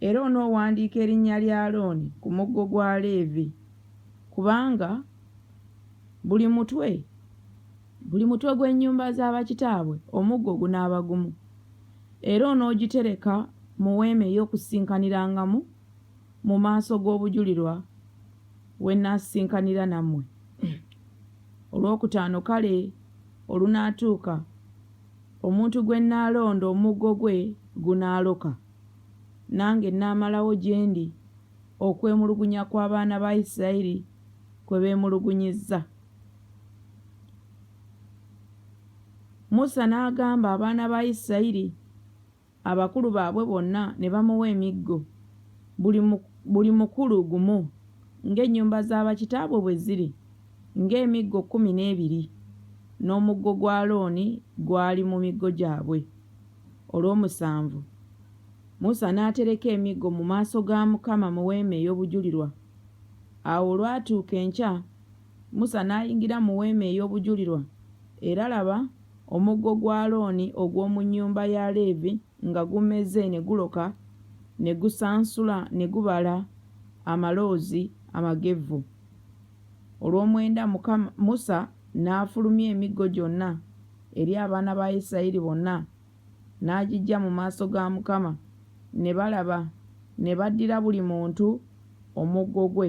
Era onoowandiika erinnya lya Alooni ku muggo gwa Leevi, kubanga buli mutwe, buli mutwe gw'ennyumba za bakitaabwe omuggo gunaaba gumu. Era onoogitereka mu Weema ey'Okusisikanirangamu mu maaso g'obujulirwa we nnaasisinkanira nammwe. Olwokutaano kale olunaatuuka Omuntu gwe nnaalonda omuggo gwe gunaaloka, nange nnaamalawo gye ndi okwemulugunya kw'abaana ba Isirayiri kwe beemulugunyizza. Musa n'agamba abaana ba Isirayiri. abakulu baabwe bonna ne bamuwa emiggo, buli, buli mukulu gumu ng'ennyumba za bakitaabwe bwe ziri, ng'emiggo kkumi n'ebiri, n'omuggo gwa Alooni gwali mu miggo gyabwe. Olw'omusanvu Musa n'atereka emiggo mu maaso ga Mukama mu weema ey'obujulirwa. Awo olwatuuka enkya, Musa n'ayingira mu weema ey'obujulirwa, era laba, Omuggo gwa Alooni ogw'omu nnyumba ya Leevi nga gumeze ne guloka, ne gusansula ne gubala amaloozi amagevvu. Olw'omwenda Mukama, Musa n'afulumya emiggo gyonna eri abaana ba Isirayiri bonna, n'agiggya mu maaso ga Mukama, ne balaba, ne baddira buli muntu omuggo gwe.